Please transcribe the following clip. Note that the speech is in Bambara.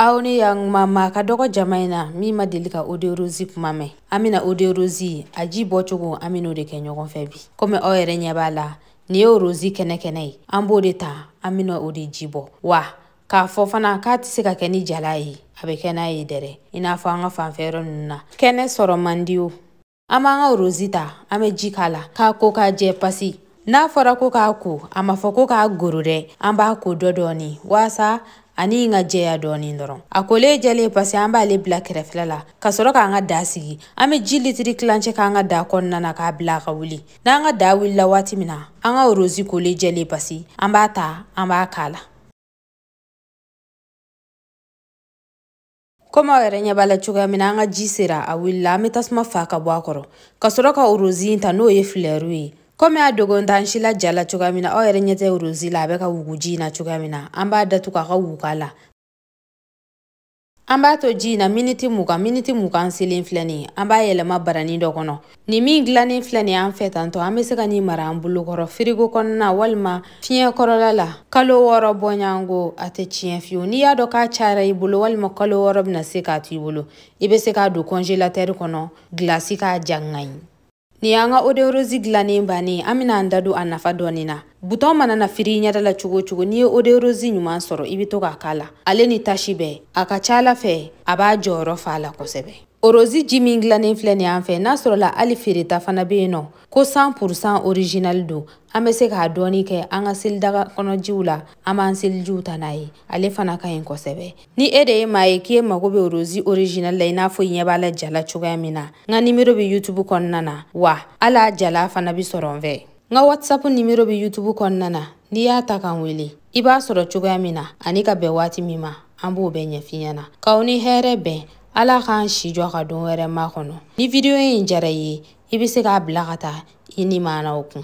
aw ni yakuma maa ka dɔgɔ jama in na min ma deli ka oderosi kuma mɛn an bɛna oderosi a ji bɔcogo an bɛn'o de kɛ ɲɔgɔn fɛ bi komi aw yɛrɛ ɲɛ b'a la nin ye orosi kɛnɛkɛnɛ ye an b'o de ta an bɛna o de ji bɔ wa k'a fɔ fana k'a tɛ se ka kɛ ni jalan ye a bɛ kɛ n'a ye dɛrɛ i n'a fɔ an ka fanfɛ yɔrɔ ninnu na kɛnɛ sɔrɔ man di o An b'an ka rozi ta an bɛ ji k'a la k'a ko k'a jɛ pasi n'a fɔra ko k'a ko a ma fɔ ko k'a goro dɛ an b'a ko dɔ dɔɔni waasa a ni ka jɛya dɔɔni dɔrɔn a kolen jɛlen pasi an b'ale bila kɛrɛfɛla la ka sɔrɔ k'an ka daa sigi an bɛ ji litiri tilancɛ k'an ka daa kɔnɔna na k'a bila a ka wuli n'an ka daa wulila waati min na an ka rozi kolen jɛlen pasi an b'a ta an b'a k'a la komi aw yɛrɛ ɲɛ b'a la cogoya min na an ka ji sera a wulila an bɛ tasuma faa ka bɔ a kɔrɔ ka sɔrɔ ka orozi in ta n'o ye filɛriw ye komi a dogon t'an si la ja la cogoya min na aw yɛrɛ ɲɛ tɛ orozi la a bɛ ka wugu ji in na cogoya min na an b'a datugu a ka wug'a la an b'a to ji in na miniti mugan miniti mugan selen filɛ nin ye an b'a yɛlɛma barani dɔ kɔnɔ Nin min dilannen filɛ nin an fɛ tantɔ an bɛ se ka nin mara an bolokɔrɔ firigo kɔnɔna walima fiɲɛ kɔrɔla la kalo wɔɔrɔ bɔɲɔgɔnko a tɛ tiɲɛ fewu n'i y'a dɔn k'a cayara i bolo walima kalo wɔɔrɔ bɛna se k'a to i bolo i bɛ se k'a don kɔnjelatɛri kɔnɔ gilasi k'a ja a ka ɲi nin y'an ka oderosi dilannen bannen an bɛna an da don a nafa dɔɔnin na butɔn mana na firi i ɲɛda la cogo o cogo n'i ye oderosi ɲuman sɔrɔ i bɛ to k'a k'a la ale ni tasi bɛɛ a ka ca ala fɛ a b'a jɔyɔrɔ fa a la kosɛbɛ orozi ji min dilannen filɛ nin an fɛ n'a sɔrɔla hali feereta fana bɛ yen nɔ ko 100 pourcent original don an bɛ se k'a dɔɔni kɛ an ka selidaga kɔnɔjiw la an b'an selijiw ta n'a ye ale fana ka ɲi kosɛbɛ ni e de ye maa ye k'i ye mago bɛ orozi original la i n'a fɔ i ɲɛ b'a la ja la cogoya min na n ka nimero bɛ youtube kɔnɔna na wa hali a jalan fana bɛ sɔrɔ n fɛ n ka whatsapp nimero bɛ youtube kɔnɔna na n'i y'a ta k'an wele i b'a sɔrɔ cogoya min na ani ka bɛn waati min ma an b'o bɛɛ ɲɛf'i ɲɛna k'aw ni hɛrɛ bɛn ala k'an si jɔ ka don wɛrɛ makɔnɔ ni vidiyo in diyara i ye i bɛ se k'a bila ka taa i nimanaw kun